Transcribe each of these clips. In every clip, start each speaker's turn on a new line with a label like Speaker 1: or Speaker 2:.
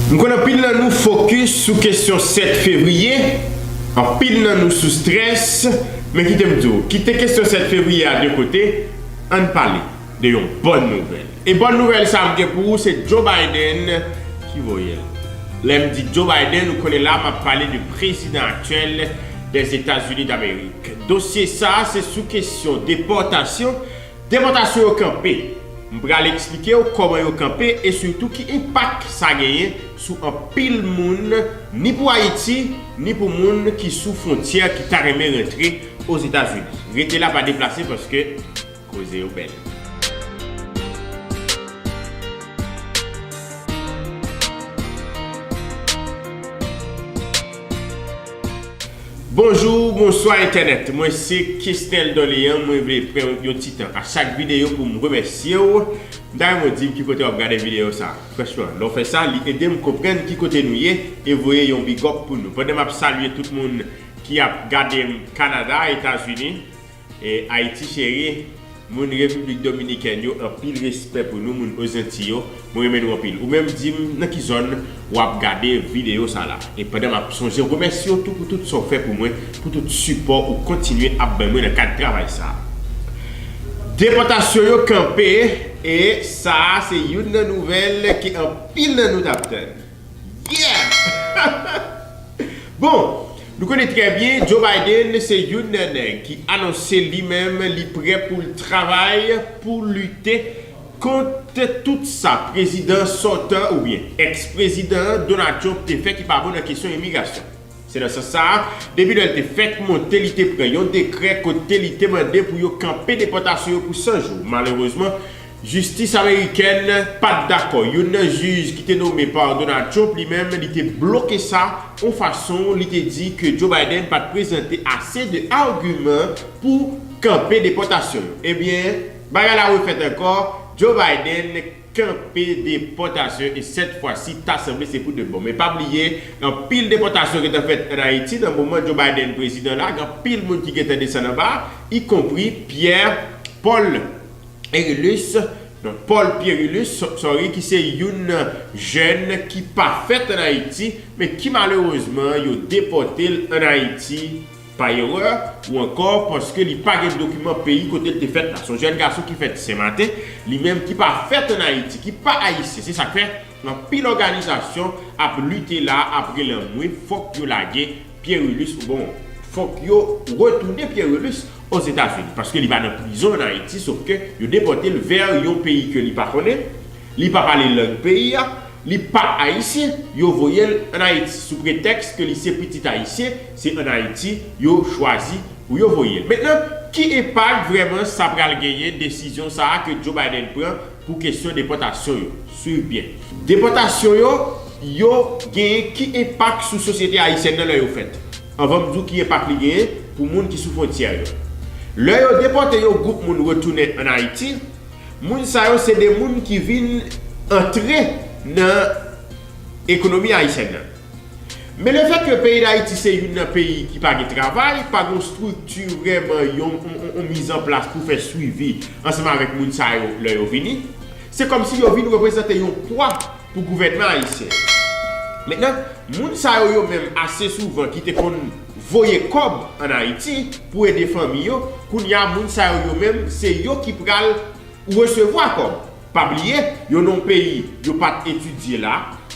Speaker 1: M konn anpil nan nou fokis sou kesyon 7 fevriye, anpil nan nou sou strès, men kite m di w, kite kesyon 7 fevriye a de kote, ann pale de yon bòn nouvèl. E bòn nouvèl sa m gen pou ou se Joe Biden ki voye l. Lè m di Joe Biden, ou konnen la m ap pale de prezidan aktyèl Dèzetazini Damerik. Dosye sa se sou kesyon depòtasyon Depòtasyon yo kanpe. M pral eksplike w kòman yo kanpe e sitou ki enpak sa genyen sou anpil moun ni pou Ayiti ni pou moun ki sou fwontyè ki ta renmen rantre Ozetazini. Rete la pa deplase paske koze yo bèl. Bonjou, bonswa entènèt, mwen se Kesnel Dorlean mwen vle pran yon ti tan a chak videyo poum remèsyew m ta renmen w dim ki kote wap gade videyo sa franchman lè w fè sa li edem konprann ki kote nou ye e voye yon bigòp pou nou pandan map salye tout moun ki ap gadem Canada, Etazini. Haïti chérie Moun République Dominicaine yo anpil respè pou nou moun Ozinti yo mwen renmen nou anpil ou menm dim nan ki zòn wap gade vidéo sa la e pandan map sonje ou remèsye w tou pou tout sa w fè pou mwen pou tout sipò ou kontinye ap bay mwen nan kad travay sa Depòtasyon yo kanpe e sa se youn nan nouvèl ke anpil nan nou tap tann. Yeah! Bon, nou konnen trè byen Joe Biden se youn nan nèg ki anonse li menm li prè pou l travay pou lite kont tout sa prezidan sòtan oubyen ex-prezidan Donald Trump te fè ki pa bon nan kesyon imigrasyon. Se nan sans sa a, depi lè l te fèk monte li te pran yon dekrè kote li te mande pou yo kanpe depòtasyon yo pou 100 jou. Malerezman, jistis amerikèn pa t dakò. Youn nan jij ki te nome pa Donald Trump li menm li te bloke sa yon fason li te di ke Joe Biden pa t prezante ase de agiman pou kanpe depòtasyon yo. Ebyen, bagay la refèt ankò, Joe Biden. kanpe depòtasyon e sèt fwa si ta sanble se pou de bon. Men pa bliye anpil depòtasyon gentan fèt an Ayiti nan moman Joe Biden prezidan la, gen anpil moun ki gentan desann anba y konpri Pierre Paul Erilus, non Paul Pierrilus sorry ki se youn jèn ki pa fèt an Ayiti men ki malerezman yo depòte l an Ayiti. pa erè ou ankò paske li pa gen dokiman peyi kote l te fèt la. Se yon jèn gason ki fèt Senmaten, li menm ki pa fèt ann Ayiti, ki pa Ayisyen. Se sa k fè, anpil òganizasyon ap lite la a ap rele anmwe fòk yo lage Pierrulus oubon fòk yo retounen Pierrulus Ozetazini paske li pa nan prizon ann Ayiti sof ke yo depòte l vè yon peyi ke li pa konnen, li pa pale lang peyi a, li pa Ayisyen, yo voye l ann Ayiti sou pretèks ke li se pitit Ayisyen. Se an Ayiti yo chwazi pou yo voye l. Mentnan, ki enpak vrèman sa pral genyen desizyon sa a ke Joe Biden pran pou kesyon depòtasyon yo? Swiv byen. Depòtasyon yo yo genyen ki enpak sou sosyete ayisyèn nan lè yo fèt? Anvan m di w ki enpak li genyen pou moun ki sou fwontyè yo. Lè yo depòte yon gwoup moun retounen an Ayiti, moun sa yo se de moun ki vin antre nan ekonomi ayisyèn nan. Men le fèt ke peyi Dayiti se youn nan peyi ki pa gen travay, pa gen yon strikti vrèman, yon mizanplas pou fè swivi ansanm avèk moun sa yo lè yo vini. Se kòm si yo vin reprezante yon pwa pou gouvènman ayisyen. Mentnan, moun sa yo yo menm ase souvan ki te konn voye kòb an Ayiti pou ede fanmi yo, kounye a moun sa yo yo menm se yo ki pral resevwa kòb. Pa bliye, yo nan peyi yo pa t etidye la,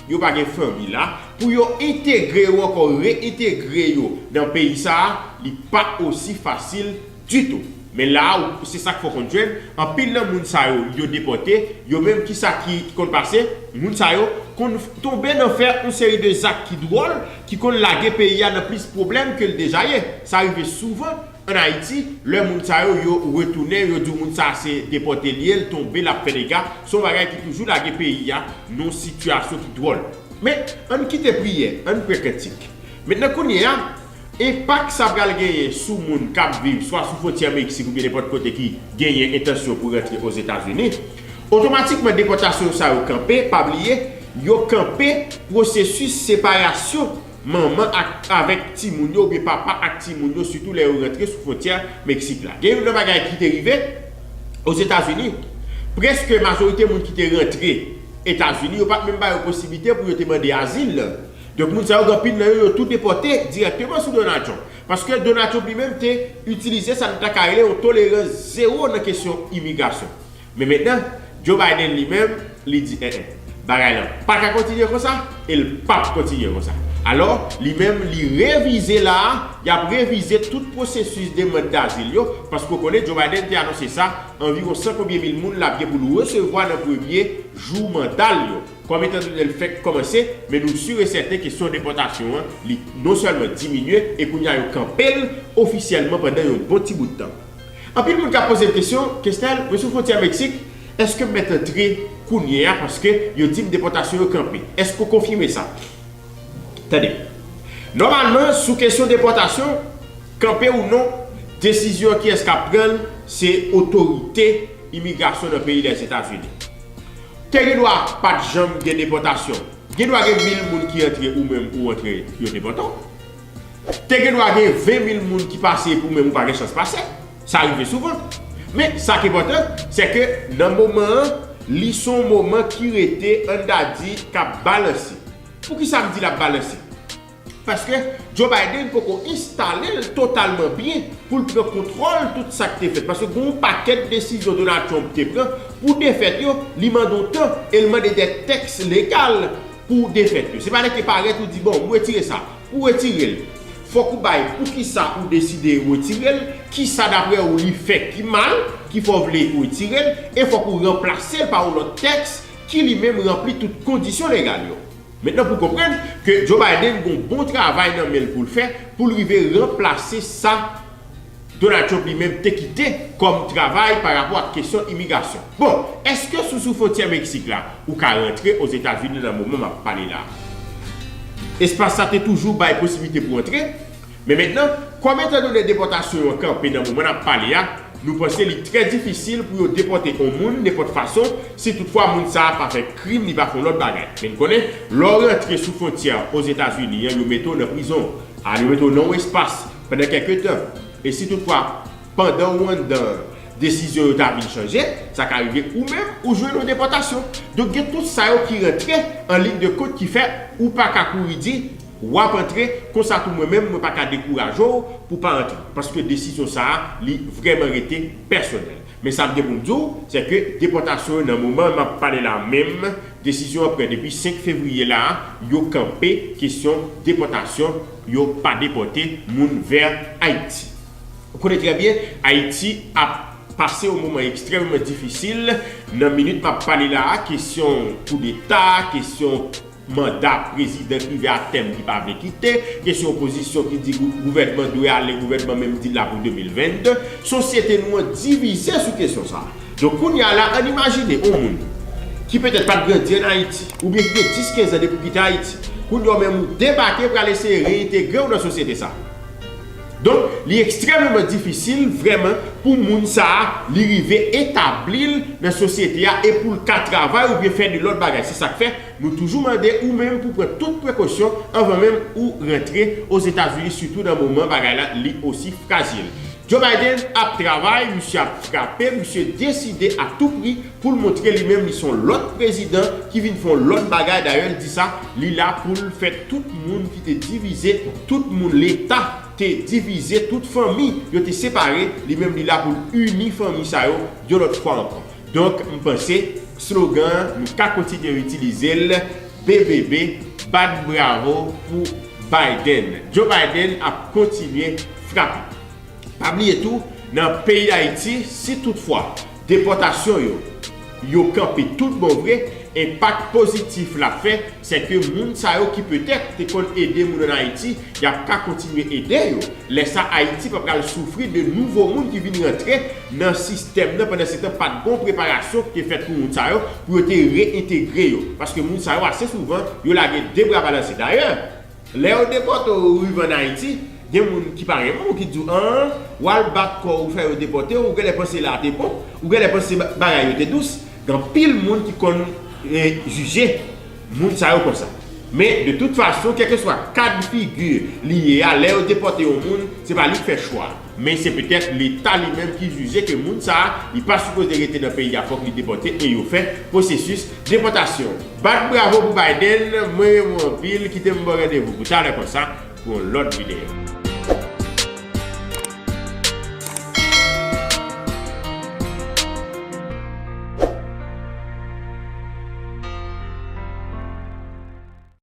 Speaker 1: yo pa gen fanmi la, pou yo entegre yo ankò, re-entegre yo nan peyi sa a, li pa osi fasil ditou. Men la a, se sa k fè w konn jwenn, anpil nan moun sa yo, yo depòte, yo menm ki sa ki konn pase, moun sa yo konn tonbe nan fè yon seri de zak ki dwòl, ki konn lage peyi a nan plis pwoblèm ke l deja ye. Sa rive souvan. An Ayiti, lè moun sa yo yo retounen, yo di w moun sa a se depòte l ye, l tonbe, l ap fè dega, se yon bagay ki toujou lage peyi a nan yon sitiyasyon ki dwòl. Men, an n kite priyè, an n pran kantik. Mentnan kounye a, enpak sa pral genyen sou moun k ap viv swa sou fwontyè Meksik oubyen nenpòt kote ki genyen entansyon pou rantre Ozetazini, otomatikman depòtasyon sa yo kanpe, pa bliye, yo kanpe pwosesis separasyon. Manman ak avèk timoun yo oubyen papa ak timoun yo sitou lè yo rantre sou fwontyè Meksik la. Gen youn nan bagay ki te rive Ozetazini, prèske majorite moun ki te rantre Etazini yo pa t menm ba yo posiblite pou yo te mande azil. Donk moun sa yo gen anpil nan yo yo tou depòte dirèkteman sou Donald Trump. Paske Donald Trump li menm te itilize sa nou ta ka rele yon tolerans zewo nan kesyon imigrasyon. Men mentnan, Joe Biden li menm, li di en en, bagay lan pa ka kontinye konsa e l pap kontinye konsa. Alò, li menm li revize la a, y ap revize tout pwosesis demand dazil yo, paske w konnen Joe Biden te anonse sa, anviwon san konbyen mil moun l ap gen pou l resevwa nan premye jou manda l yo, kòm etan done l fèk kòmanse, men nou si e sèten kesyon depòtasyon an, li non sèlman diminye e kounye a yo kanpe l ofisyèlman pandan yon bon ti bout tan. Anpil moun ka poze m kesyon, Kesnel, mwen sou fwontyè Meksik, èske m mèt antre kounye a paske yo di m depòtasyon yo kanpe? Èske ou konfime sa? Tande. Nòmalman, sou kesyon depòtasyon, kanpe ou non, desizyon an kiyès k ap pran l, se otorite imigrasyon nan peyi Lèzetazini. Te gen dwa pa t janm gen depòtasyon. Gen dwa gen mil moun ki antre ou menm ou antre yo depòte w. Te gen dwa gen 20 mil moun ki pase pou menm ou pa gen chans pase. Sa rive souvan. Men, sa k enpòtan, se ke nan moman an, li se yon moman ki rete, an ta di, k ap balanse. Poukisa m di l ap balanse? Paske Joe Biden poko enstale l totalman byen pou l pran kontwòl tout sa k te fèt. Paske gen yon pakèt desizyon Donald Trump te pran pou defèt yo, li mande w tan e l mande de tèks legal. Pou ou defèt yo. Se pa rete parèt ou di bon m retire sa. Pou retire l, fòk ou bay poukisa ou deside retire l, kisa daprè ou li fè ki mal ki fè w vle retire l, e fòk ou ranplase l pa yon lòt tèks ki li menm ranpli tout kondisyon legal yo. Mentnan pou konprann ke Joe Biden gon bon travay nan men l pou l fè pou l rive ranplase sa Donald Trump li menm te kite kòm travay pa rapò ak kesyon imigrasyon. Bon, eske sou sou fontyè Meksik la, ou ka rantre Ozetazini nan moman map pale la? Espas sa te toujou bay posibilite pou antre, men mentnan, kòm etan done depòtasyon yo kanpe nan moman nap pale a, nou panse li trè difisil pou yo depòte on moun nenpòt fason, si tout fwa moun sa pa fè krim li pa fon lòt bagay. Men n konnen, lè w rantre sou fontyè Ozetazini an yo mete w nan prizon, al yo mete w nan on espas, Pandan kèlke tan, e si toutfwa pandan ou anndan an, desizyon yo ta vin chanje, sa ka rive ou menm ou jwenn yon depòtasyon. Donk gen tout sa yo ki rantre an liy de kont ki fè ou pa ka kouri di w ap antre, konsa tou mwen menm mwen pa ka dekouraje w pou w pa antre. Paske desizyon sa a li vrèman rete pèsonèl. Men sa m gen pou m di w, sè ke depòtasyon yo nan moman m ap pale la menm, desizyon an pran depi 5 fevriye la a, yo kanpe kesyon depòtasyon, yo pa depote moun ver Haiti. Ou konnen trè byen Haiti ap pase yon moman ekstrèmeman difisil nan minit map pale la a kesyon kou deta, kesyon manda prezidan ki rive a tèm ki pa vle kite, kesyon opozisyon ki di gouvènman dwe ale gouvènman menm di la pou 2022. Sosyete nou an divize sou kesyon sa a. Donk kounya la ann imajine on moun ki petèt pat grandi ann Ayiti oubyen ki gen 10, 15 an depi w kite Ayiti, kounya w menm ou debake pral eseye reyentegre w nan sosyete sa. Donk li ekstrèmeman difisil vrèman pou moun sa a li rive etabli l nan sosyete a e pou l ka travay oubyen fè de lòt bagay. Se sa k fè nou toujou mande ou menm pou w pran tout prekosyon anvan menm ou rantre Ozetazini sitou nan moman bagay la li osi frajil. Joe Biden ap travay, misye ap frape, misye deside a tou pri pou l montre li menm li s on lòt prezidan ki vin fè on lòt bagay, dayè l di sa, li la pou l fè tout moun ki te divize, tout moun leta te divize, tout fanmi yo te separe, li menm li la pou l ini fanmi sa yo yon lòt fwa ankò. Donk m panse slogan an nou ka kontinye itilize l BBB bat bravo pou Biden. Joe Biden ap kontinye frape. Pa bliye tou nan peyi Dayiti si tout fwa depòtasyon yo yo kanpe tout bon vre enpak pozitif l ap fè sè ke moun sa yo ki petèt te konn ede moun an Ayiti, y ap ka kontinye ede yo. Lè sa Ayiti pa pral soufri de nouvo moun ki vin rantre nan sistèm nan pandan se tan pa t gon preparasyon ki te fèt pou moun sa yo pou yo te reyentegre yo. Paske moun sa yo ase souvan yo lage de bra balanse. Dayè. Lè yo depòte w ou rive an Ayiti, gen moun ki pa renmen w ki di w an, w al bat kò w ou fè yo depòte w, ou genlè panse la a te bon, ou genlè panse bagay yo te dous, gen anpil moun ki konn jije moun sa yo konsa. Men de tout fason kèlkeswa kad figi li ye a lè yo depòte yon moun se pa li k fè chwa a. Men se petèt leta li menm ki jije ke moun sa a li pa sipoze rete nan peyi a fòk li depòte e yo fè pwosesis depòtasyon. Bat bravo pou Biden, mwen renmen w anpil, kite m ba w randevou pou talè konsa pou yon lòt videyo.